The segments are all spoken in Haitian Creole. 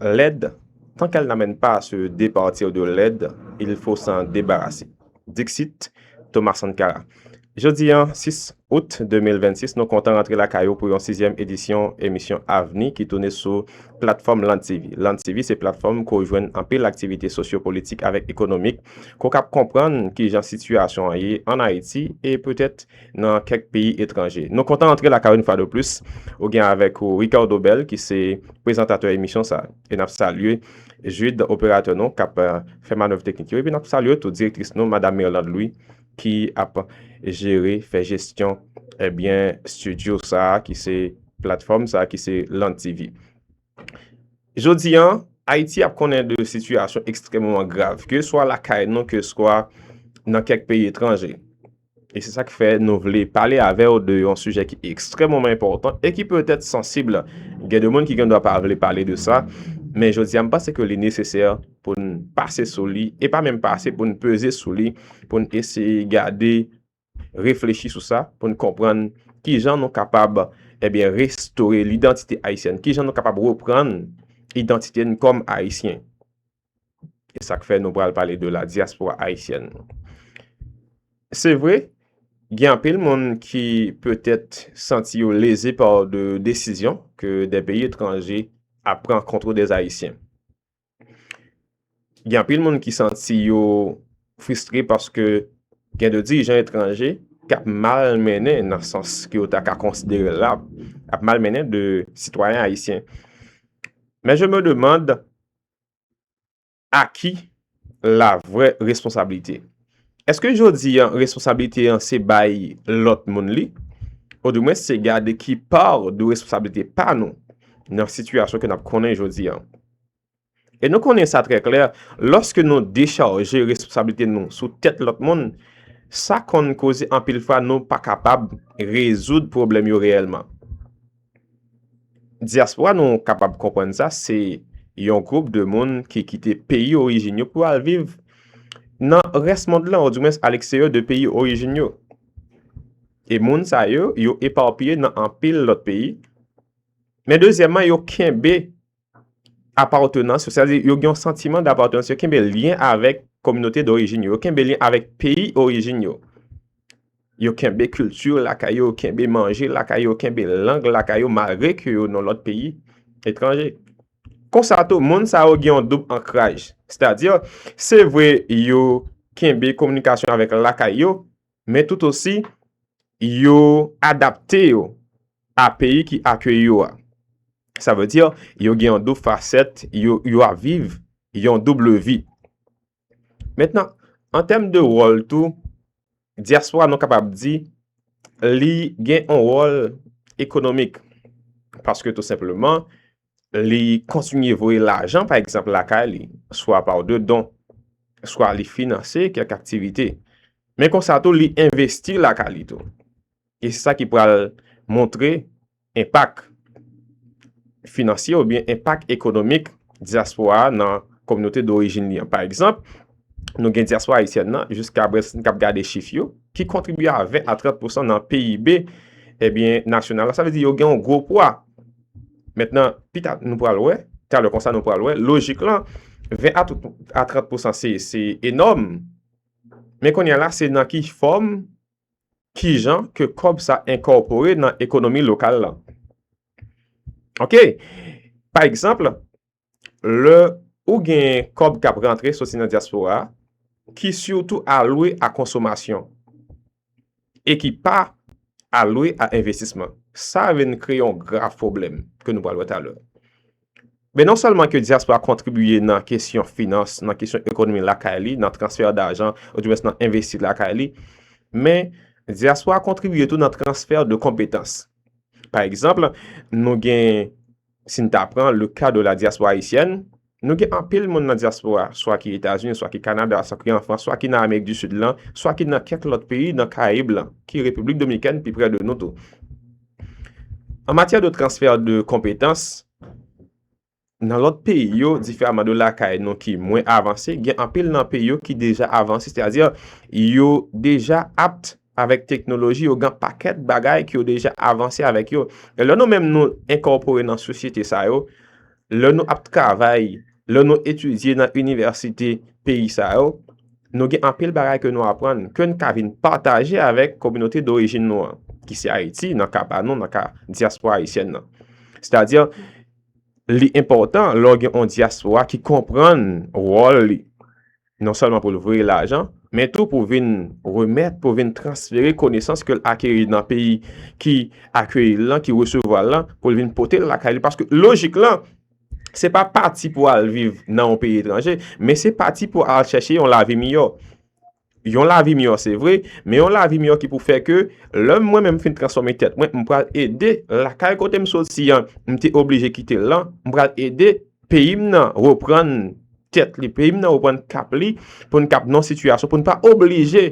Lèd, tant qu'elle n'amène pas à se départir de lèd, il faut s'en débarrasser. Dixit Thomas Sankara. Jodi an, 6 Out 2026, nou kontan rantre lakay ou pou yon sizyèm edisyon emisyon Avni ki toune sou platfòm Land TV. Land TV se platfòm ke w jwenn anpil aktivite sosyo-politik avèk ekonomik, ke w kab konprann kijan sitiyasyon an ye an Ayiti e petèt nan kèk peyi etranje. Nou kontan antre lakay ou yon fwa de plis, ou gen avèk ou Ricardo Bell ki se prezantatè emisyon sa. E nap salye Jude operatè nou kap euh, fè manèv teknik yo epi nap salye tou direktris nou madam Mirlande Louis ki ap jere, fè jesyon ebyen eh, studio sa ki se platfòm sa ki se Land TV. Jodi an, Ayiti ap konnen de sitiyasyon ekstrèmeman grav, ke swa lakay nou, ke swa nan kèk peyi etranje. E se sa k fè nou vle pale avè ou de yon sijè ki ekstrèmeman enpòtan e ki petèt sansib. Gen de moun ki gen dwa pa vle pale de sa, men jodi a m panse ke li nesesè pou n pase sou li, e pa menm pase pou n peze sou li, pou n eseye gade reflechi sou sa pou n konprann ki jan nou kapab ebyen eh restore lidantite ayisyèn, ki jan nou kapab reprann idantite n kòm ayisyen. E sa k fè nou pral pale de la dyaspora ayisyèn. Se vre, gen anpil moun ki petèt santi yo leze pa de desizyon ke de peyi etranje ap pran kontre de ayisyen. Gen anpil moun ki santi yo fristre paske gen de dirijan etranje ki ap mal mennen nan sans ki yo ta ka konsidere la, ap mal mennen de sitwayen ayisyen. Men je me demand a ki la vre responsabilite? Eske jodi an responsabilite an se bay lot moun li? Ou di mwen se gade ki par de responsabilite pa nou nan sitiyasyon ke nap konnen jodi an? E nou konnen sa trè klè, lòske nou dechaje responsablite nou sou tèt lòt moun, sa konn koze anpil fwa nou pa kapab rezoud pwoblèm yo reyèlman. Dyaspora nou kapab konprann sa, se yon gwoup de moun ki kite peyi orijin yo pou al viv nan rès mond lan, ou di mwens aleksteryo de peyi orijin yo. E moun sa yo, yo eparpiye nan anpil lòt peyi. Men dezyèman, yo kenbe. apawtenans yo, sètadi yo gen yon santiman dapawtenans, yo kenbe lyen avèk kominote dorijin yo, yo kenbe lyen avèk peyi orijin yo, yo kenbe kilti lakay yo, yo kenbe manje lakay yo, yo kenbe lang lakay yo malgre ke yo nan lòt peyi etranje. Konsa tou, moun sa yo gen yon doub ankraj, sètadi se vre yo kenbe kominikasyon avèk lakay yo, men tout osi yo adapte yo a peyi ki akeyi yo a. Sa vle di yo gen yon doub fasèt, yo ap viv yon double vi. Mentnan, an tèm de wòl tou, dyaspora nou kapab di li gen yon wòl ekonomik. Paske tou senpleman, li kontinye voye lajan pa egzanp lakay li, swa pa w de don, swa li finanse kèk aktivite. Men konsa tou li envesti lakay li tou. E se sa ki pral montre enpak finansye oubyen enpak ekonomik dyaspora a nan kominote dorijin li an. Pa egzanp, nou gen dyaspora ayisyèn nan, jiska brès n kap gade chif yo, ki kontribye a 20 a 30 pousan nan PIB, ebyen nasyonal la. Sa vle di yo gen yon gwo pwa. Mentnan, pita nou pral wè, talè konsa nou pral wè, lojik lan, 20 a 30 pousan se enòm, men kounye la se nan ki fòm, ki jan ke kòb sa enkòpore nan ekonomi lokal lan. Ok, pa egzanp, Lè ou gen kòb k ap rantre soti nan dyaspora ki sitou alwe a konsomasyon e ki pa alwe a envestisman, sa vin kreye yon grav pwoblèm ke nou pral wè talè. Men non sèlman ke dyaspora kontribiye nan kesyon finans, nan kesyon ekonomi lakay li, nan transfè dajan ou di mwens nan envesti lakay li, men dyaspora kontribiye tou nan transfè de konpetans. Pa egzanp, nou gen. Si n ta pran le ka de la diaspora haïtienne, nou gen anpil moun nan diaspora a, swa ki Etazini, swa ki Kanada, swa ki an Frans, swa ki nan Amerik di Sid lan, swa ki nan kèk lòt peyi nan Karayib lan, ki Repiblik Dominikèn pi prè de nou tou. An matyè de transfè de konpetans, nan lòt peyi yo, diferaman de lakay nou ki mwen avanse, gen anpil nan peyi yo ki deja avanse, sètadi yo deja apt, Avèk teknoloji yo gen pakèt bagay ki yo deja avanse avèk yo. E lè nou menm nou enkòpore nan sosyete sa yo, lè nou ap travay, lè nou etidye nan inivèsite peyi sa yo, nou gen anpil bagay ke nou aprann, ke n ka vin pataje avèk kominote dorijin nou an, ki se Ayiti, nan ka pa nou, nan ka dyaspora ayisyèn nan. Sètadi, li enpòtan lè w gen yon dyaspora ki konprann wòl li non sèlman pou l voye lajan, men tou pou vin remèt, pou vin transfere konesans ke l akeri nan peyi ki akeyi l lan, ki resevwa l lan, pou l vin pote l lakay li. Paske lojik lan, se pa pati pou al viv nan yon peyi etranje, men se pati pou al chèche yon lavi miyò. Yon lavi miyò se vre, men yon lavi miyò ki pou fè ke lè mwen menm fin transfòme tèt mwen, m pral ede lakay kote m soti an, m te oblije kite l lan, m pral ede peyi m nan reprann. tèt li, peyi m nan reprann kap li pou n kap nan sitiyasyon pou n pa oblije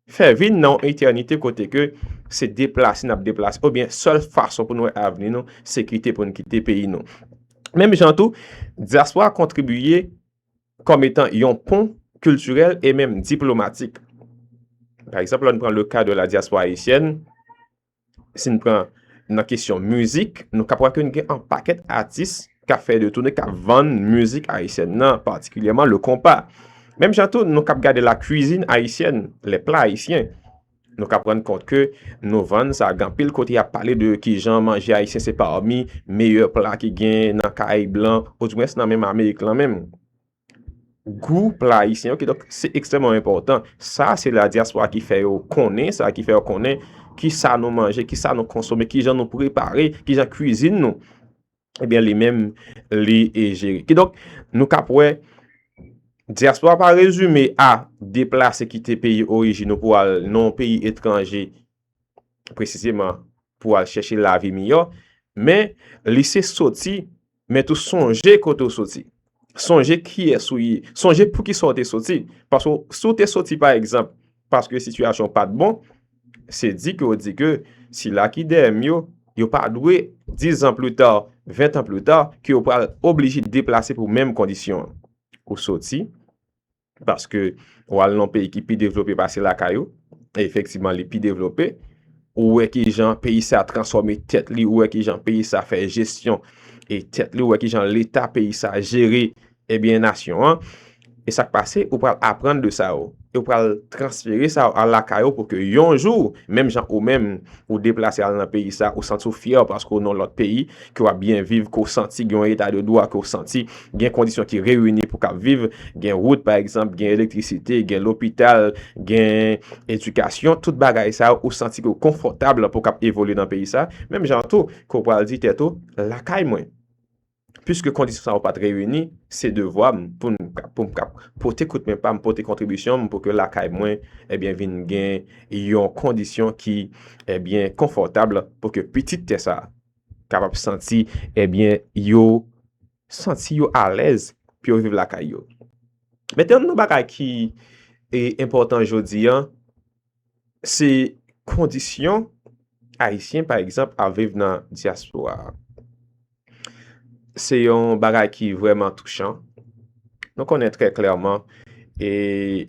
fè vi n nan yon etènite kote ke se deplase n ap deplase oubyen sèl fason pou n wè avni nou se kite pou n kite peyi nou. Menm jan tou, dyaspora kontribiye kòm etan yon pon kiltirèl e menm diplomatik. Pa egzanp, lè n pran le ka de la dyaspora ayisyèn, si n pran nan kesyon mizik, nou kap wè ke n gen an pakèt atis kap fè de toune, kap vann mizik ayisyèn nan, patikilyèman le konpa. Menm jan tou, nou kap gade la kwizin ayisyèn, le pla ayisyen, nou kap rann kont ke nou vann sa, gen anpil kote yap pale de kijan manje ayisyen se pami meyè pla ki gen nan kay blan, ou di mwens nan menm Amerik lan menm. gou pla ayisyen ok donk se ekstrèman enpòtan sa se la dyaspora ki fè yo konnen sa ki fè yo konnen ki sa nou manje ki sa nou konsome ki jan nou prepare ki jan kwizin nou ebyen li menm li e jere ki donk nou kap wè dyaspora pa rezime a deplase kite peyi orijin nou pou al nan yon peyi etranje presizeman pou al chèche lavi miyò, men li se soti, men tou sonje kote ou soti. Sonje kiyès ou ye. Sonje pou ki sa ou te soti. Paske si ou te soti pa egzanp, paske sitiyasyon ou pa t bon, se di ke ou di ke sila ki dèyè m yo, yo pa dwe 10 an pli ta, 20 an pli ta, ke yo pral oblije deplase pou menm kondisyon an. Ou soti, Paske ou al nan peyi ki pi devlope pase lakay ou, e efektivman li pi devlope, ou wè ki jan peyi sa a transfòme tèt li, ou wè ki jan peyi sa a fè jesyon e tèt li, ou wè ki jan leta peyi sa a jere ebyen nasyon an, e sa k pase, ou pral aprann de sa yo, e ou pral transfere sa yo al lakay ou pou ke yon jou, menm jan ou menm ou deplase al nan peyi sa a, ou santi ou fyè paske ou nan lòt peyi, ke w ap byen viv, ke w santi gen yon eta de dwa, ke w santi Gen kondisyon ki reyini pou kap viv, gen wout pa egzanp, gen elektrisite, gen lopital, gen edikasyon, tout bagay sa ou santi ke ou konfòtab pou kap evolye nan peyi sa, menm jan tou ke ou pral di tèt ou, lakay mwen, piske kondisyon sa ou pat reyini, se devwa m pou m kap pote kout men pa m, pote kontribisyon m pou ke lakay mwen ebyen vin gen yon kondisyon ki ebyen konfòtab pou ke pitit tè sa. kapab santi ebyen eh yo santi yo alèz pou yo viv lakay yo. Men te yon nan bagay ki e enpòtan jodi an, se kondisyon ayisyen pa egzanp ap viv nan dyaspora. Se yon bagay ki vreman touchan. Nou konnen trè klèman e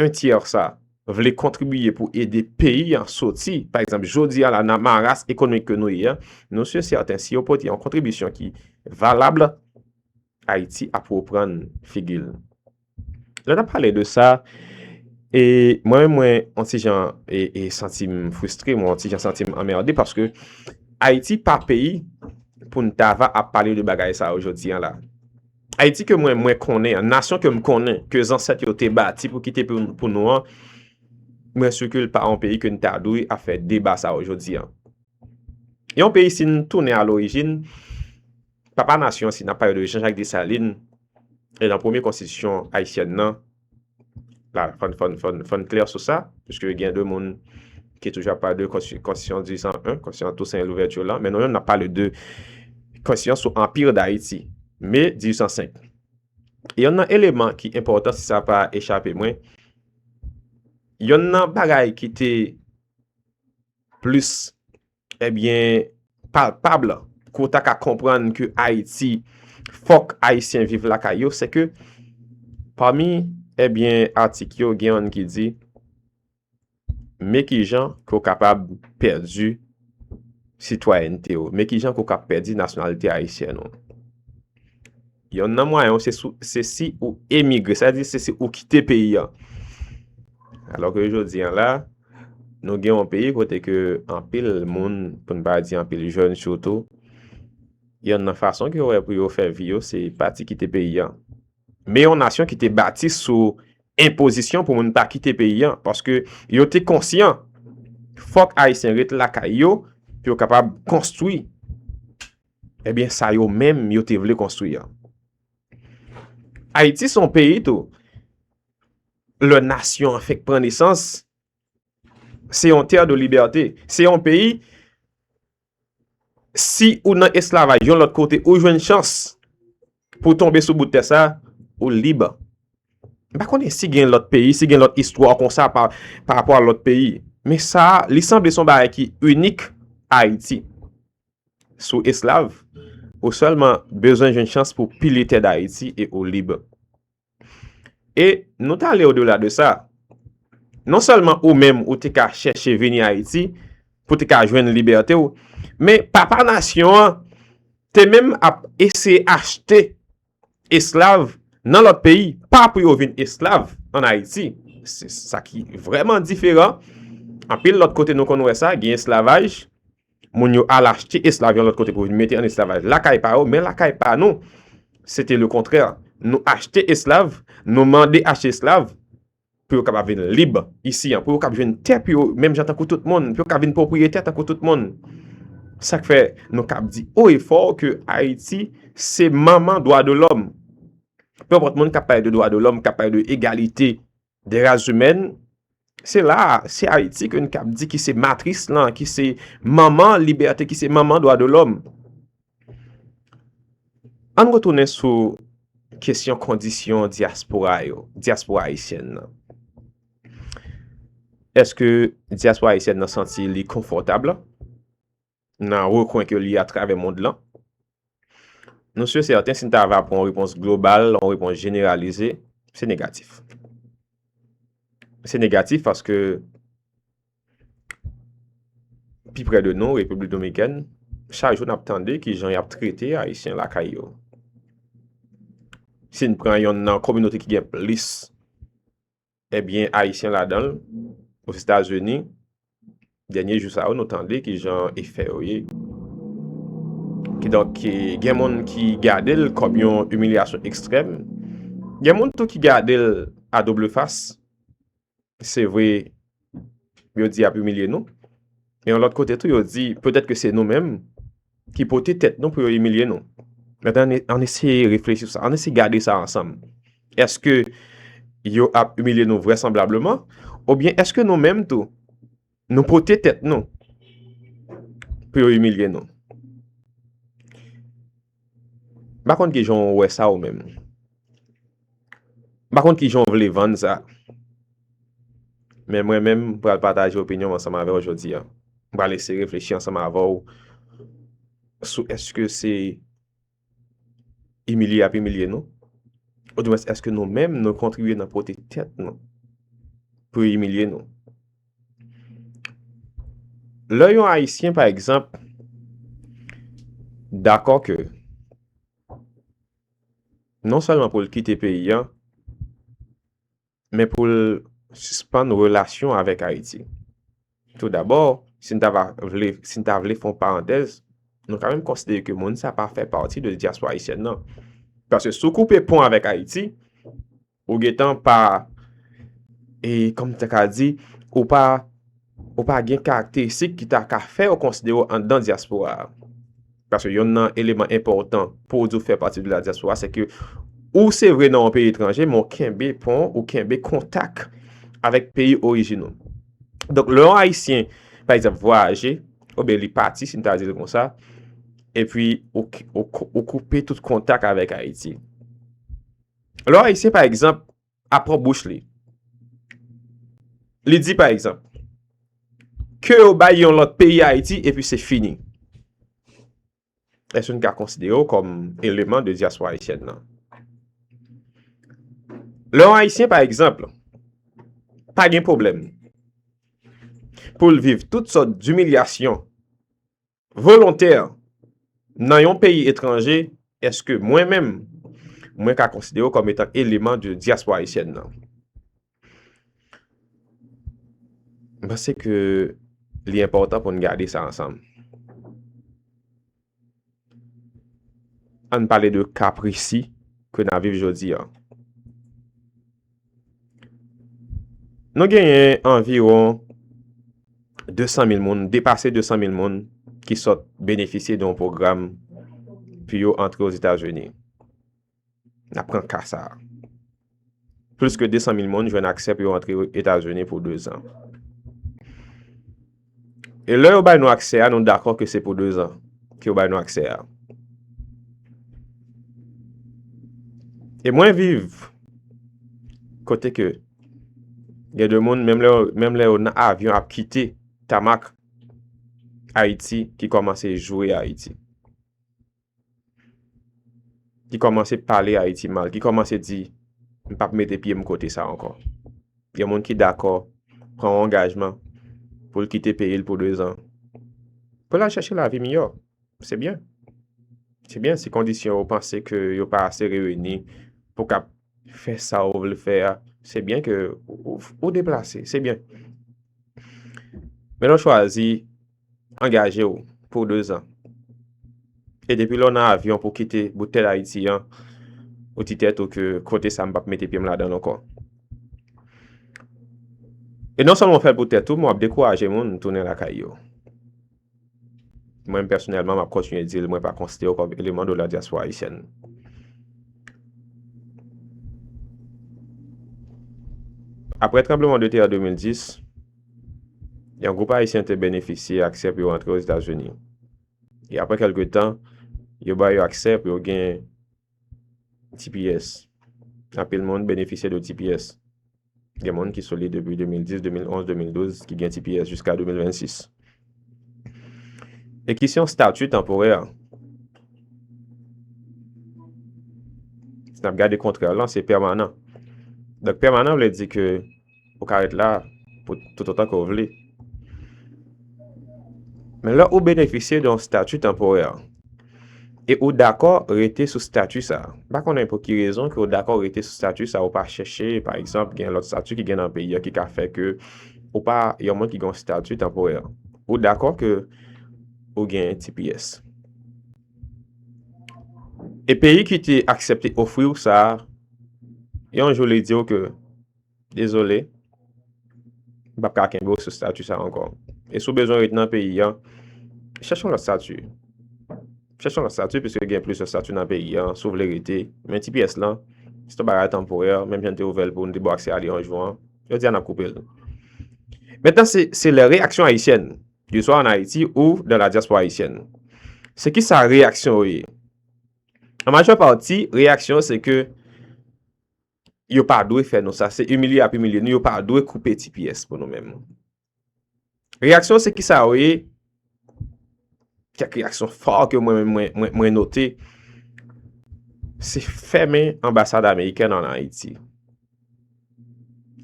1 tiers sa vle kontribiye pou ede peyi an soti pa egzanp jodi a la nan maras ekonomik ke nou ye a, nou si sèten si yo pote yon kontribisyon ki valab Ayiti ap reprann figi l. Lè n ap pale de sa, e mwen menm mwen yon ti jan e santi m fristre, mwen yon ti jan santi m anmerde paske Ayiti pa peyi pou n ta va ap pale de bagay sa yo jodi a la. Ayiti ke mwen mwen konnen an, nasyon ke m konnen, ke zansèt yo te bati pou kite pou nou an, mwen si ke l pa yon peyi ke n ta dwe ap fè deba sa yo jodi an. Yon peyi si n tounen a lorijin, papa nasyon si n ap pale de Jean Jacques Dessalines, e nan premye konstitisyon ayisyèn nan, La, fòn, fòn, fòn, fòn klè sou sa, piske gen de moun ki toujou ap pale de konstitisyon 1801, konstitisyon Toussaint Louverture la, men nou menm n ap pale de konstitisyon sou Anpir Dayiti, me 1805. Yonn nan eleman ki enpòtan, si sa pa echape mwen, yonn nan bagay ki te plis Ebyen, palpab la, ke w ta ka konprann ke Ayiti, fòk Ayisyen viv lakay yo, se ke, pami, ebyen, atik yo, gen yon ki di, men ki jan ke w kapab pèdi sitwayènte w, men ki jan ke w kab pèdi nasyonalite Ayisyen w. Yonn nan mwayen yo se si ou emigre, sa vle di se si ou kite peyi an. Alò ke jodi an la, nou gen yon peyi kote ke anpil moun, pou n pa di anpil jèn sitou, yonn nan fason ke yo wè pou yo fè vi yo se pati kite peyi an. Men yon nasyon ki te bati sou enpozisyon pou moun pa kite peyi an, paske yo te konsyan fòk Ayisyen ret lakay yo pou yo kapab konstwi Ebyen sa yo menm yo te vle konstwi an. Ayiti son peyi tou. Le nasyon an fek pran nesans. Se yon ter de liberte. Se yon peyi. Si ou nan eslavaj yon lot kote ou jwen chans. Pou tonbe sou bout ter sa. Ou lib. Ba konen si gen lot peyi. Si gen lot istwa kon sa. Pa rapor lot peyi. Men sa li sanble son bagay ki unik. Ayiti. sou eslav, ou sèlman bezwen jwenn chans pou pile tè d'Ayiti e ou lib. E nou ta ale odela de sa, non sèlman ou menm ou te ka chèche vini Ayiti pou te ka jwenn libète ou, men papa nasyon an te menm ap eseye achte esklav nan lòt peyi, pa pou yo vin esklav an Ayiti. Se sa ki vrèman diferan. Anpil lòt kote nou konn wè sa, gen esklavaj, moun yo al achte esklav yon lòt kote pou vin mete an esklavaj lakay pa yo, men lakay pa nou, se te le kontrè. Nou achte esklav, nou mande achte esklav, pou yo kapab vin lib isi an, pou yo kapab jwenn tè pou yo menm jan tankou tout moun, pou yo kapab vin pwopriyetè tankou tout moun. Sa k fè nou kapab di o e fò ke Ayiti se manman dwa de lòm. Pe mpòt moun k ap pale de dwa de lòm, k ap pale de egalite de ras imèn, se la a, se Ayiti ke n kapab di ki se matris lan, ki se manman libète, ki se manman dwa de lòm. Ann retounen sou kesyon kondisyon dyaspora yo, dyaspora ayisyèn nan. Eske dyaspora ayisyèn nan santi li konfòtab la? Nan rekwen ke li atravè mond lan? Nou sye sèten si n ta va pran repons global, repons jeneralize, se negatif. Se negatif paske Pi prè de nou, Repiblik Dominikèn, chak jou n ap tande ki jan y ap trete Ayisyen lakay yo. Si n pran yonn nan kominote ki gen plis ebyen Ayisyen ladan l, Ozetazini, dènye jou sa yo nou tande ki jan e fè yo ye. Kidonk, gen moun ki gade l kòm yon imilyasyon ekstrèm, gen moun tou ki gade l a doble fas. se vre yo di y ap imilye nou, men yon lòt kote tou yo di petèt ke se nou menm ki pote tèt nou pou yo imilye nou. Mèten an eseye reflechi sou sa, an eseye gade sa ansanm. Eske yo ap imilye nou vrèsanblableman? Oubyen eske nou menm tou Nou pote tèt nou pou yo imilye nou. M pa konn ki jan ou wè sa ou menm. M pa konn ki jan ou vle vann sa. Men mwen menm m pral pataje opinyon m ansanm avè w jodi a. M pral eseye reflechi ansanm avè w sou eske se Imilye yap imilye nou? Ou di mwens eske nou menm nou kontribye nan pote tèt nou pou yo imilye nou? Lè yon ayisyen pa egzanp dakò ke non sèlman pou l kite peyi an, men pou l sispann relasyon avèk Ayiti. Tou dabò, si n ta va vle, si n ta vle fè yon parantèz, nou ka menm konsidere ke moun sa pa fè pati de dyaspora ayisyèn nan. Paske si w koupe pon avèk Ayiti, ou gen tan pa, e kòm m ta ka di, ou pa, ou pa gen karakteristik ki ta ka fè yo konsidere w anndan dyaspora a. Paske yonn nan eleman enpòtan pou w di w fè pati de ladyaspora se ke ou se vre nan yon peyi etranje men w kenbe pon, ou kenbe kontak avèk peyi orijin ou. Donk lè yon Ayisyen pa egzanp vwayaje oubyen li pati si m ta di l konsa epi ou koupe tout kontak avèk Ayiti. Lè yon Ayisyen pa egzanp a pran bouch li. Li di pa egzanp, ke yo bay yon lòt peyi Ayiti epi se fini. Eske nou ka konsidere yo kòm eleman de diaspora Ayisyèn nan? Lè yon Ayisyen pa egzanp, pa gen pwoblèm pou l viv tout sòt dimilyasyon Volontè nan yon peyi etranje, èske mwen menm, mwen ka konsidere w kòm etan eleman de dyaspora ayisyèn nan? M panse ke li enpòtan pou n gade sa ansanm. An n pale de ka presi ke n ap viv jodi an. Nou genyen anviwon 200 mil moun, depase 200 mil moun ki sot benefisye don program pou yo antre o Zeta Zuni. Na pran kasa. Plis ke 200 mil moun jwen aksè pou yo antre o Zeta Zuni pou 2 zan. E lè yo bay nou aksè a, nou dakò ke se pou dezan ke yo bay nou aksè a. E mwen viv kote ke gen de moun menm lè yo nan avyon ap kite tamak Ayiti ki kòmanse joure Ayiti. ki kòmanse pale Ayiti mal, ki kòmanse di, m pap mete pye m kote sa ankò. Gen moun ki dakò pran yon angajman pou l kite peyi l pou 2 zan, pou l al chache lavi miyò. Se byen. Se byen si kondisyon ou panse ke yo pa ase reyini pou w kab fè sa ou vle fè a, se byen ke ou deplase, se byen. Men lè w chwazi. angaje w pou 2 zan. E depi lè w nan avyon pou kite bout tè Dayiti an, ou di tèt ou ke kote sa m pap mete pye m ladan l ankò. E non sèlman w fè l pou tèt ou, men w ap dekouraje moun tounen lakay yo. Mwen pèsonèlman m ap kontinye di l mwen pa konsidere w kòm eleman de la dyaspora ayisyèn. Aprè tranbleman de tè 2010, Yon gwoup Ayisyen te benefisye aksè pou yo antre Ozetazini. E apre kèlke tan, yo ba yo aksè pou yo gen tps. Anpil moun benefisye de tps. Gen moun ki sou li depi 2010, 2011, 2012 ki gen tps jiska 2026. E ki se yon stati tanporè. Si n ap gade kontrè lan, se pèmanan. Donk pèmanan vle di ke. Ou ka ret la pou toutotan ke w vle. Men lè ou benefisye de yon stati tanporè, e ou dakò rete sou stati sa, m pa konnen pou ki rezon ke ou dakò rete sou stati sa, ou pa chèche, pa egzanp, gen lòt stati ki gen nan peyi a ki ka fè ke ou pa yon moun ki gen yon stati tanporè. Ou dakò ke ou gen tps. E peyi ki te aksepte ofri ou sa, yon jou li di ou ke. Dezole, m pap ka kenbe w sou stati sa ankò. E si w bezwen ret nan peyi an, chèche yon lòt stati. Chèche yon lòt stati piske gen plizyè stati nan peyi an si w vle rete. Men tps lan, se yon bagay tanporè, menm jan n te ouvè l pou n te ba w aksè ale yon jou an, jodi a n ap koupe l. Mentnan se lè reyaksyon ayisyèn yo swa ann Ayiti ou dan la dyaspora ayisyèn. Se ki sa reyaksyon yo ye? An majè pati, reyaksyon se ke yo pa dwe fè nou sa, se imilye yap imilye nou, yo pa dwe koupe ti pyès pou nou menm. Reyaksyon se ki sa yo ye, kèk reyaksyon fò ke mwen menm mwen note, se fèmen ambasad Ameriken an Ayiti.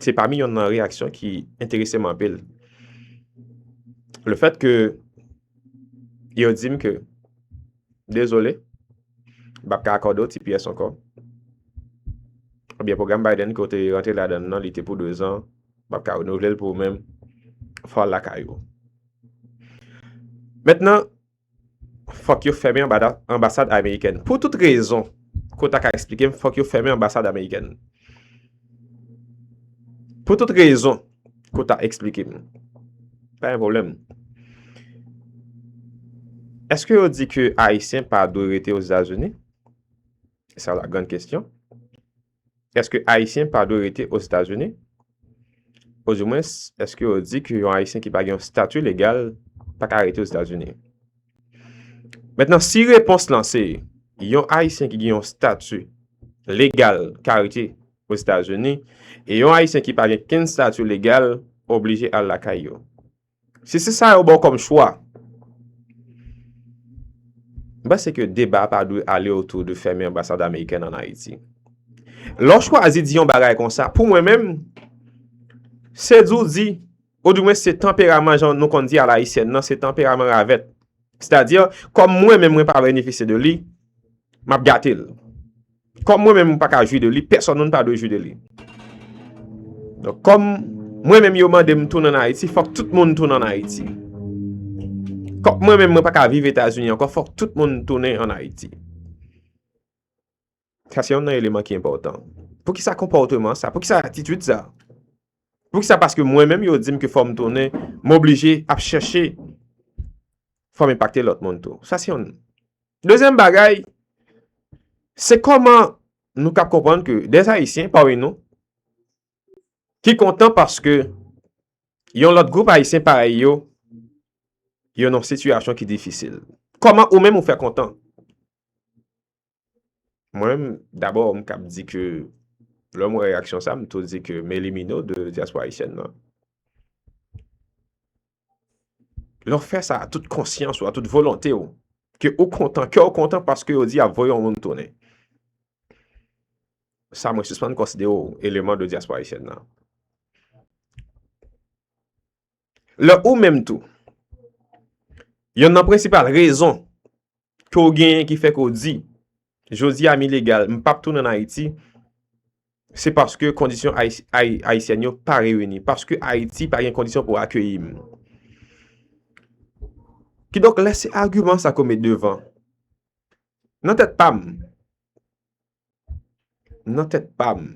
Se pami yon nan reyaksyon ki enterese m anpil. Le fèt ke yo di m ke, dezole, M pap ka akòde w ti pyès ankò. Oubyen pwogram Biden ke w te rantre ladan l nan, li te pou 2 zan, m pap ka renouvle l pou ou menm, fò w al lakay ou. Mentnan, fòk yo fèmen anbasad amerikèn. Pou tout rezon ke w ta ka esplike m, fòk yo fèmen anbasad amerikèn. Pou tout rezon. Pou ta explike m. Pa gen pwoblèm. Eske yo di ke Ayisyen pa dwe rete Ozetazini? Sa la grand kestyon. Eske Ayisyen pa dwe rete Ozetazini? O di mwens, eske yo di ke yon Ayisyen ki pa gen yon stati legal pa ka rete Ozetazini? Mentnan, si repons lan se, yon Ayisyen ki gen yon stati legal ka rete Ozetazini, e yon Ayisyen ki pa gen kenn stati legal oblije al lakay yo. Si se sa yo ba w kòm chwa, m panse ke deba a pa dwe ale otou de fèmen anbasad amerikèn an Ayiti. Lè w chwazi di yon bagay konsa, pou mwen menm, se di w di, ou di mwen se tanperaman jan nou konn di alayisyèn nan, se tanperaman ravèt. Sètadi, kòm mwen menm mwen pa benefisye de li, m ap gate l. Kòm mwen menm m pa ka jwi de li, pèsòn moun pa dwe jwi de li. Donk kòm mwen menm yo mande m tounen an Ayiti, fòk tout moun tounen an Ayiti. Kòm mwen menm mwen pa ka viv Etazini ankò, fòk tout moun tounen an Ayiti. Sa se yon nan eleman ki enpòtan. Poukisa konpòteman sa? Poukisa atitid sa? Poukisa paske mwen menm yo dim ke fò m tounen, m oblije ap chèche fò m enpakte lòt moun tou. Sa se yon. Dezyèm bagay, se kòman nou kap konprann ke dèz ayisyen pami nou ki kontan paske yon lòt gwoup ayisyen parèy yo yo nan sitiyasyon ki difisil. Kòman ou menm ou fè kontan? Mwen, dabò, m kab di ke lè m wè reyaksyon sa, m tou di ke Meli Mino de Dyaspora Ayisyèn nan, lè w fè sa a tout konsyans ou, a tout volonte ou, ke ou kontan, kè w kontan paske yo di y ap voye yon moun tounen. Sa mwen sispann konsidere w eleman de Dyaspora Ayisyèn nan. Lè ou menm tou, yonn nan prensipal rezon ke ou genyen ki fè ke ou di, jodi a m ilegal, m pap tounen an Ayiti, se paske kondisyon Ayisyèn yo pa reyini, paske Ayiti pa gen kondisyon pou akeyi m. Ki donk lè se agiman sa ke ou met devan, nan tèt pa m, nan tèt pa m,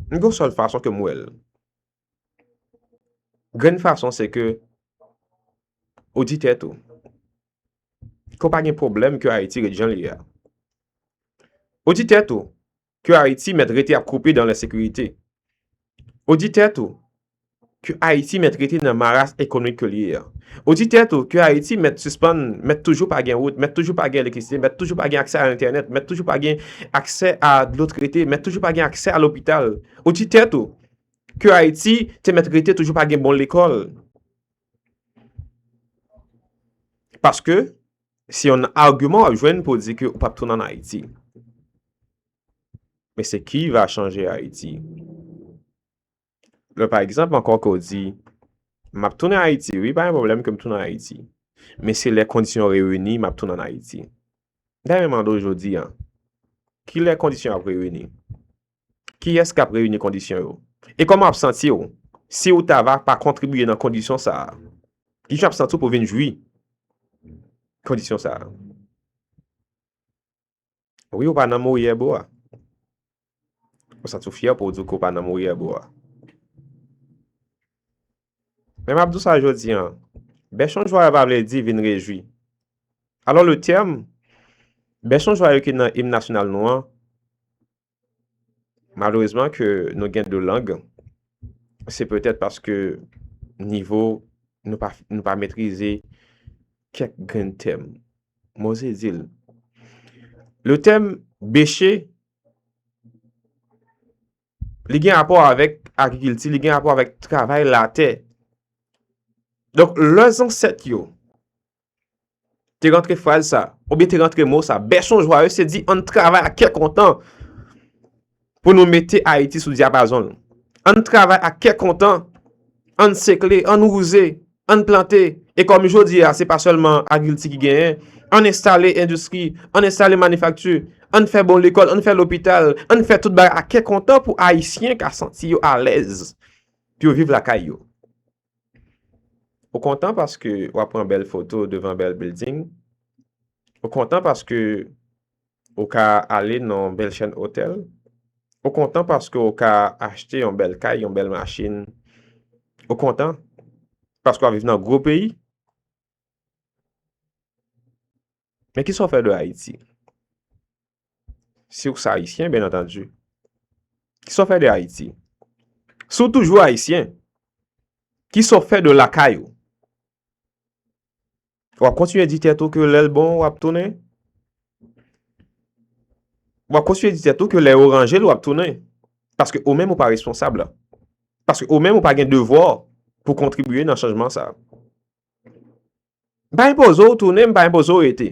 m gen yon sèl fason ke m wè l, Grenn fason se ke ou di tèt ou. Ke w pa gen pwoblèm ke Ayiti ret jan l ye a. Ou di tèt ou ke Ayiti mèt rete ap koupe dan lensekirite. Ou di tèt ou ke Ayiti mèt rete nan maras ekonomik ke l ye a. Ou di tèt ou ke Ayiti mèt sispann, mèt toujou pa gen wout, mèt toujou pa gen elektrisite, mèt toujou pa gen aksè a entènèt, mèt toujou pa gen aksè a dlo trete, mèt toujou pa gen aksè a lopital. Ou di tèt ou ke Ayiti te mèt rete toujou pa gen bon lekòl. Paske, se yon argument wap jwenn pou di ke ou pap tounen an Ayiti. Men se ki va chanje Ayiti. Lè pa egzanp ankò ke ou di, map tounen an Ayiti, wi pa yon problem ke m tounen an Ayiti. Men se lè kondisyon reyini map tounen an Ayiti. Dayè men mande ou jodi an, ki lè kondisyon ap reyini? Kiyès k ap reyini kondisyon yo? E kòman w ap santi w si w ta va pa kontribye nan kondisyon sa a? Ki jan w ap santi w pou w vin jwi kondisyon sa a? Wi, ou pa nan Morier bro a. Ou santi w fyè pou w di w ke w pa nan Morier bro a. Men m ap di w sa jodi an, bèchon jwayo pa vle di vin rejwi. Alò le tèm, bèchon jwayo ki nan im nasyonal nou an, Malerezman ke nou gen 2 lang, se petèt paske nivo nou pa metrize kèk grenn tèm. Mwen oze di l. Le tèm beche, li gen rapò avèk agrikilti, li gen rapò avèk travay latè. Donk, lè zansèt yo Te rantre fraz sa, ou bi te rantre mo sa, Bèson Jwaye se di an travay ak kè kontan pou nou mete Ayiti sou diapazon. An travay ak kè kontan, an sekle, an wouze, an plante, e kòm jodi a se pa sèlman agilti ki genyen, an enstale endistri, an enstale manifakti, an fè bon lekòl, an fè lopital, an fè tout bagay ak kè kontan pou Ayisyen ka santi yo alèz pou yo viv lakay yo. Ou kontan paske w ap pran bèl foto devan bèl bilding? Ou kontan paske ou ka ale nan yon bèl chèn otèl? Ou kontan paske ou ka achte yon bèl kay, yon bèl machin? Ou kontan paske w ap viv nan gwo peyi? Men ki sa w fè de Ayiti? Si w se Ayisyen, byen antandu. Ki sa w fè de Ayiti? Si w toujou Ayisyen, ki sa w fè de lakay ou? W ap kontinye di tèt ou ke lè l bon w ap tounen? W ap kontinye di tèt ou ke lè yo ranje l w ap tounen? Paske ou menm ou pa responsab la. Paske ou menm ou pa gen devwa pou kontribiye nan chanjman sa. M pa enpoze w tounen, m pa enpoze w rete.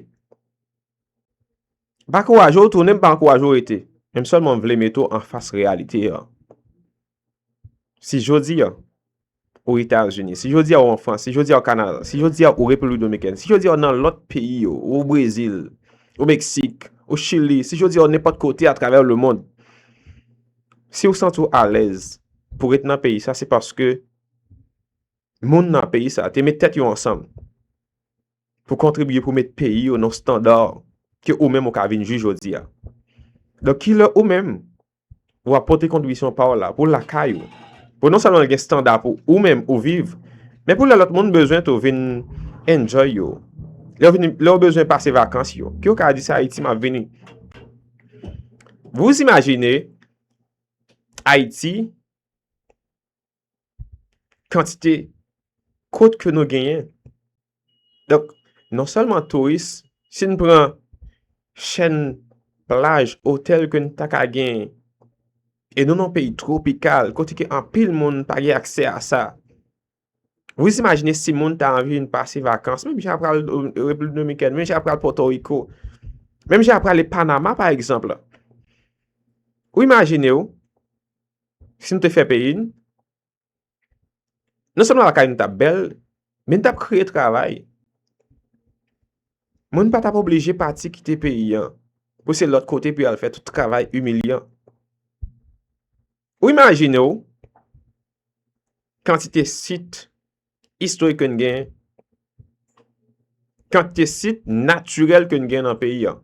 M pa ankouraje w tounen, m pa ankouraje w rete. Men m sèlman vle mete w anfas reyalite an. Si jodi an, ou Etazini, si jodi an ou an Frans, si jodi an ou Kanada, si jodi an ou Repiblik Dominikèn, si jodi an ou nan lòt peyi yo, ou Brezil, ou Meksik, ou Chili, si jodi an ou nenpòt kote atravè le mond, si ou santi w alèz pou rete nan peyi sa, se paske moun nan peyi sa te met tèt yo ansanm pou kontribye pou met peyi yo nan standa ke ou menm ou ka vin jwi jodi a. Donk ki lè ou menm ou ap pote kontribisyon pa w la pou lakay ou, pou non sèlman gen standa pou ou menm ou viv, men pou lè lòt moun bezwen tou vin enjoy yo, lè yo bezwen pase vakans yo, ke yo ka di se Ayiti m ap vini. Vous imaginez Ayiti kantite kot ke nou genyen. Donk, non sèlman touris, si n pran chèn plaj, otèl ke n ta ka genyen, e nou nan peyi tropikal, kote ke anpil moun pa gen aksè a sa. Wis imajine si moun ta anvi vin pase vakans, menm jan pral Repiblik Dominikèn, menm jan pral Pòtoriko, menm jan prale Panama pa egzanp la. Ou imajine ou, Si nou te fè peyi n, non sèlman lakay nou t ap bèl, men n t ap kreye travay. Moun pa t ap oblije pati kite peyi an pou se lòt kote pou y al fè tout travay imilyan. Ou imajine w kantite sit istorik ke n gen, kantite sit natirèl ke n gen nan peyi an.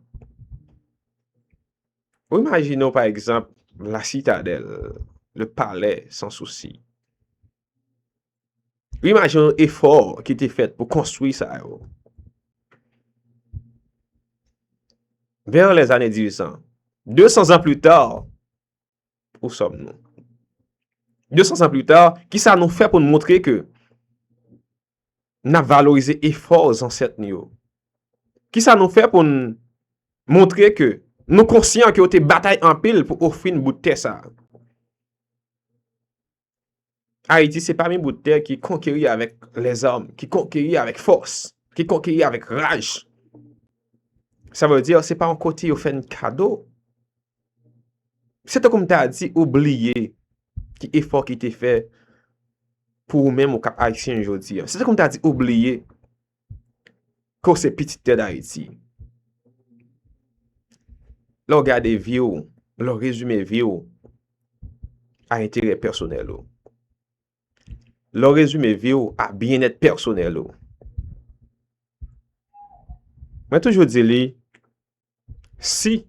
Ou imajine w pa egzanp La Citadelle, Le Palais, Sans Souci. Ou imajine w efò ki te fèt pou konstwi sa yo. Vers les années 1800. 200 ans plus tard, ou sòm nou. 200 ans plus tard, ki sa nou fè pou nou montre ke n ap valorize efò zansèt nou yo? Ki sa nou fè pou n montre ke nou konsyan ke yo te batay anpil pou ofri n bout tè sa a? Ayiti se pami bout tè ki konkeri avèk lèzòm, ki konkeri avèk fòs, ki konkeri avèk raj. Sa vle di se pa yon kote yo fè n kado. Se tankou m ta di ou bliye ki efò ki te fè pou ou menm ou kap Ayisyen jodi an. Se tankou m ta di ou bliye ke ou se pitit tè Dayiti. Lè ou gade vi ou, lè ou rezime vi ou a enterè pèsonèl ou. Lè ou rezime vi ou a byenèt pèsonèl ou. Mwen toujou di li, Si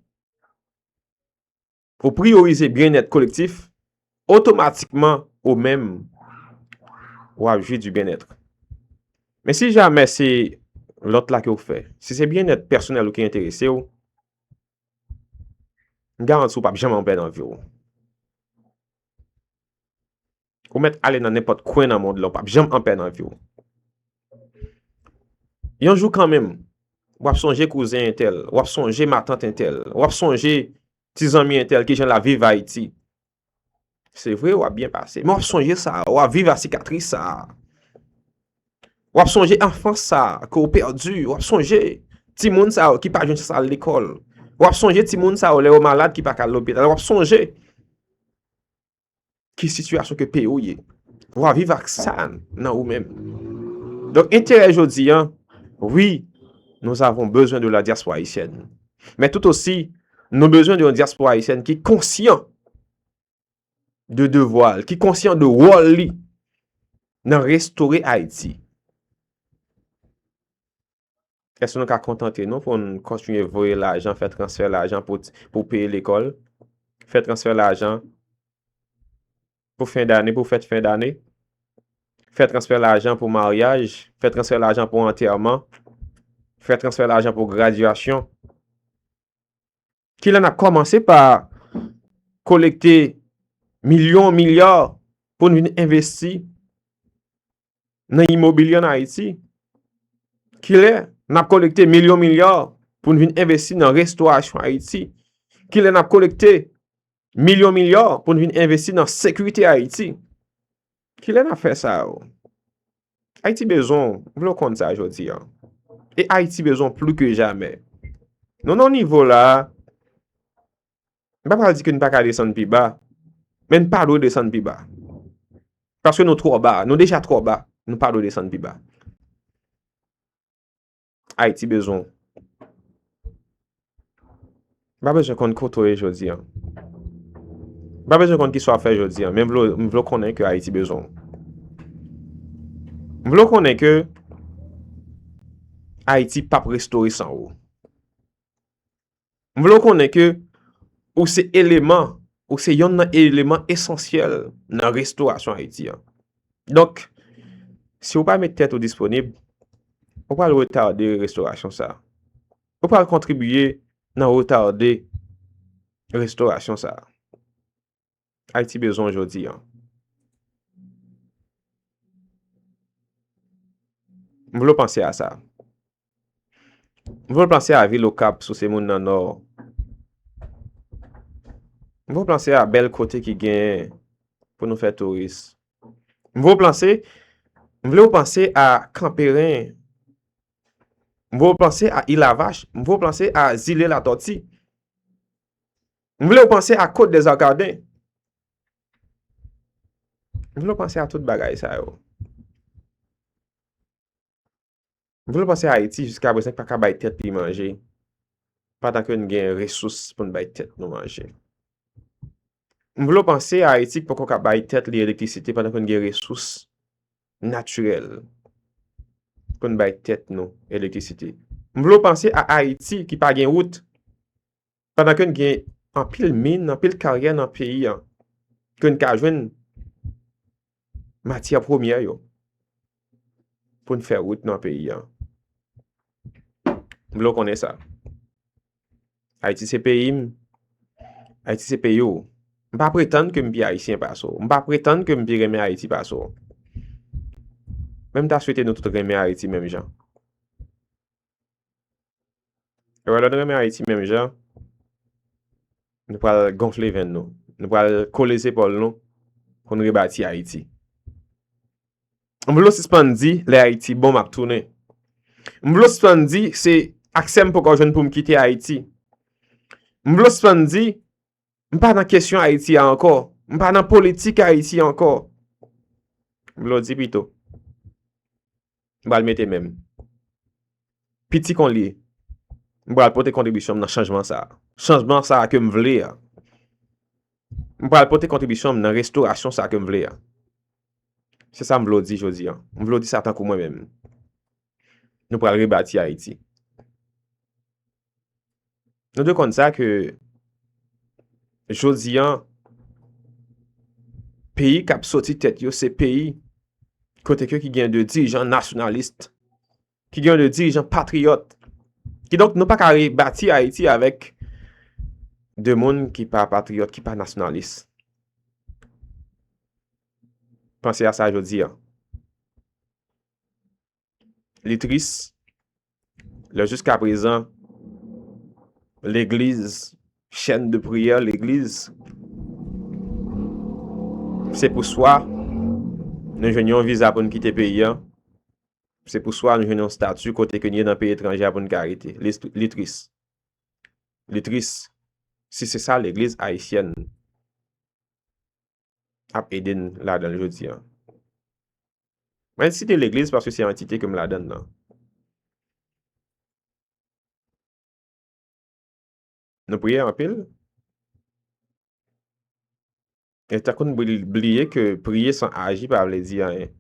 ou priyorize byennèt kolektif, otomatikman ou menm ou ap jwi di byennèt. Men si jamè se lòt la ke ou fè, si se byennèt pèsonèl ou ki enterese ou, m garanti ou pap janm anpè nan vi ou. Ou mèt ale nan nenpòt kwen nan mond la, ou pap janm anpè nan vi w. Yon jou kanmenm, w ap sonje kouzen entèl, w ap sonje matant entèl, w ap sonje ti zanmi entèl ki jan l ap viv Ayiti. Se vre, w ap byen pase, men w ap sonje sa, w ap viv a sikatris sa. W ap sonje anfans sa ke w pèdi, w ap sonje ti moun sa yo ki pa jwenn chans al lekòl. W ap sonje ti moun sa yo lè yo malad ki pa ka al lopital. W ap sonje. ki sitiyasyon ke peyi ou ye. Ou a viv ak sa nan ou menm. Donk, enterè jodi an, wi, nou avon bezwen de la diaspora Haitienne. Men tout osi, nou bezwen de yon diaspora Haitienne ki konsyan de devwa li, ki konsyan de wòl li nan restore Haiti. Èske nou ka kontante nou pou n kontinye voye lajan, fè transfè lajan pou peye lekòl, fè transfè lajan pou fen dane, pou fèt fen dane, fè transfè lajan pou maryaj, fè transfè lajan pou antèman, fè transfè lajan pou gradyasyon? Ki lè nap kòmanse pa kolekte milyon, milya pou n vin envesti nan imobilye an Ayiti? Ki lè nap kolekte milyon, milya pou n vin envesti nan restorasyon Ayiti? Ki lè nap kolekte Milyon milyon pou n vin envesti nan sekirite Ayiti. Ki lè n ap fè sa yo? Ayiti bezon, m vle w konn sa jodi an. E Ayiti bezon plou ke jamè. Nou nan nivo la, m pa pral di ke n pa ka desann pi ba, men n pa dwe desann pi ba. Paske nou twò ba, nou deja twò ba, nou pa dwe desann pi ba. Ayiti bezwen w. M pa bezwen konn kote w ye jodi an. M pa bezwen konn ki sa w ap fè jodi an. Men m vle w konnen ke Ayiti bezwen w. M vle w konnen ke Ayiti pap restore san ou. M vle w konnen ke ou se eleman, ou se yonn nan eleman esansyèl nan restorasyon Ayiti an. Donk, si ou pa met tèt ou disponib, ou pral retade restorasyon sa. Ou pral kontribiye nan retade restorasyon sa. Ayiti bezwen w jodi an. M vle w panse a sa. M vle w panse a vil Okap si w se moun nan Nò. M vle w panse a bèl kote ki gen pou nou fè touris. M vle w panse, m vle w panse a Kanperen. M vle w panse a Ilavach. M vle w panse a zile Latòti. M vle w panse a Côte des Arcadins. M vle w panse a tout bagay sa yo. M vle w panse a Ayiti jiska prezan ki pa ka bay tèt li manje pandan ke n gen resous pou n bay tèt nou manje. M vle w panse a Ayiti ki poko ka bay tèt li elektrisite pandan ke n gen resous natirèl pou n bay tèt nou elektrisite. M vle w panse a Ayiti ki pa gen wout. Pandan ke n gen anpil min, anpil karyè nan peyi an, ke n ka jwenn matyè premyè yo pou n fè wout nan peyi an. M vle w konnen sa. Ayiti se peyi m, Ayiti se peyi w. M pa pretann ke m pi ayisyen pase w. M pa pretann ke m pi renmen Ayiti pase w. Men m ta swete nou tout renmen Ayiti menm jan. Ewa lè nou renmen Ayiti menm jan, nou pral gonfle venn nou, nou pral kole zepòl nou pou n rebati Ayiti. M vle w sispann di lè Ayiti bon m ap tounen. M vle w sispann di se aksè m poko jwenn pou m kite Ayiti. M vle w sispann di M pa nan kesyon Ayiti a ankò. M pa nan politik Ayiti ankò. M vle w di pito. M pral mete men m. Piti kon li. M pral pote kontribisyon m nan chanjman sa a. Chanjman sa a ke m vle a. M pral pote kontribisyon m nan restorasyon sa a ke m vle a. Se sa m vle w di jodi a. M vle w di sa tankou mwen men m. Nou pral rebati Ayiti. Nou dwe konn sa ke jodi an peyi k ap soti tèt yo se peyi kote ke ki gen de dirijan nasyonalist, ki gen de dirijan patriyòt. Ki donk nou pa ka rebati Ayiti avèk de moun ki pa patriyòt, ki pa nasyonalist. Panse a sa jodi an. Li tris. Lè jiska prezan, legliz, chèn de priyè legliz, se pou swa nou jwenn yon viza pou nou kite peyi an, se pou swa nou jwenn yon statu kote ke nye nan peyi etranje a pou nou ka rete. Li tris. Li tris. Si se sa legliz ayisyèn. ap ede n ladan l jodi an. Mwen site legliz paske se antite ke m ladan l lan. Nou priye anpil. E tankou n bliye ke priye san aji pa vle di anyen.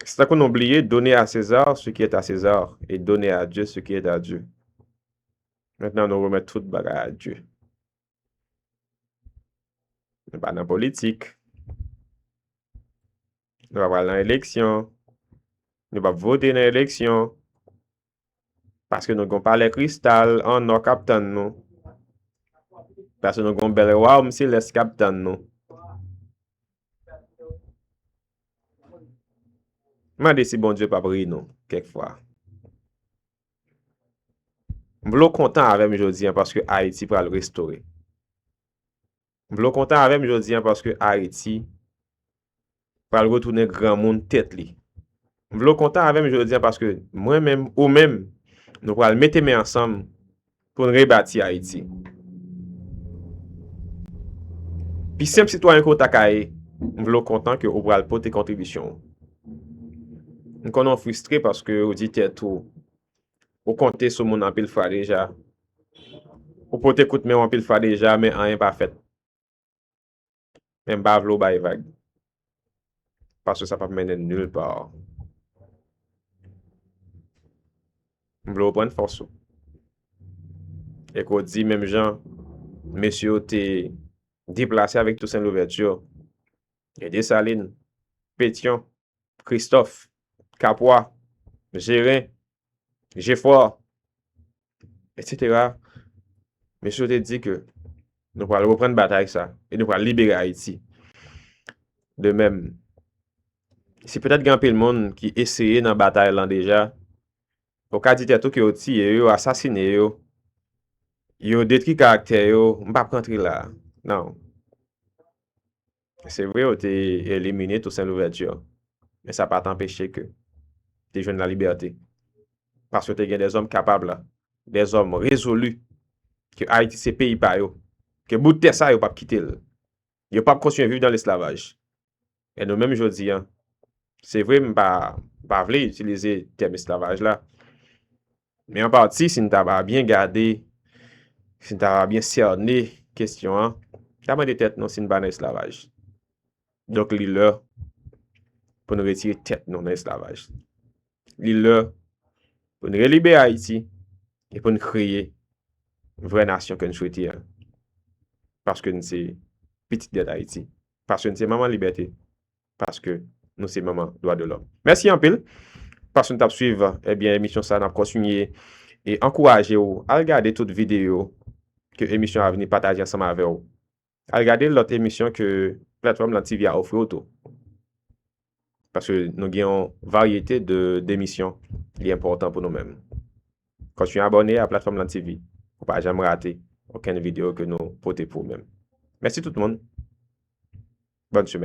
Se tankou nou bliye done a Sezar se ki eta Sezar e done a Dye se ki eta Dye. Mentnan nou remèt tout bagay a Dye. Nou pa nan politik. Nou pa pral nan eleksyon. Nou pa vote nan eleksyon. Paske nou gon palè kristal an nò kap tann nou. Paske nou gon bèl wawm selès kap tann nou. Mande si Bondye pap ri nou kèk fwa. M vle w kontan avè m jodi an paske Ayiti pral restore. M vle w kontan avè m jodi an paske Ayiti pral retounen granmoun tèt li. M vle w kontan avè m jodi an paske mwen menm, ou menm, nou pral mete men ansanm pou n rebati Ayiti. Pi senp sitwayen ke w ta ka ye, m vle w kontan ke ou pral pote kontribisyon w. M konnen w fristre paske ou di tèt ou Ou konte sou moun anpil fwa deja. Ou pote kout men w anpil fwa deja men anyen pa fèt. Men m pa vle w bay vag. Paske sa pap mennen nul par. M vle w pran fòs ou. E ke w di menm jan mesye yo te deplase avèk Toussaint Louverture, gen Dessalines, Pétion. Kristòf, Kapwa, Jeren, Jefò, etsetera, mesye yo te di ke nou pral reprann batay sa e nou pral libere Ayiti. De menm, si petèt gen anpil moun ki eseye nan batay lan deja, ou ka di tèt ou ke yo tiye yo, asasine yo, yo detri karaktè yo, m pa p rantre la, nan. Se vre yo te elimine Toussaint Louverture, men sa pa t anpeche ke te jwenn la libète. Paske te gen de zòm kapab la, de zòm rezolu ke Ayiti se peyi pa yo, ke bout tè sa yo pap kite l, yo pap kontinye viv dan lesklavaj. E nou menm jodi an, se vre m pa vle itilize tèm esklavaj la, Men an pati, si n ta va byen gade, si n ta va byen sène kesyon an, ta mande tèt nou si n pa nan esklavaj. Donk li lè pou n retire tèt nou nan esklavaj. Li lè pou n relibere Ayiti e pou n kreye vrè nasyon ke n swete an. Paske n se pitit dè Dayiti. Paske n se manman libète. paske nou se manman dwa de lòm. Mèsi anpil paske nou t ap swiv ebyen eh emisyon sa a. N ap kontinye e ankouraje ou al gade tout videyo ke emisyon a vini pataje ansanm avè ou. Al gade lòt emisyon ke platfòm lan TV a ofri ou tou. Paske nou gen yon varyete de demisyon li enpòtan pou nou menm. Kontinye abòne a platfòm lan TV pou w pa janm rate okenn videyo ke nou pote pou ou menm. Mèsi tout moun. Bòn semèn.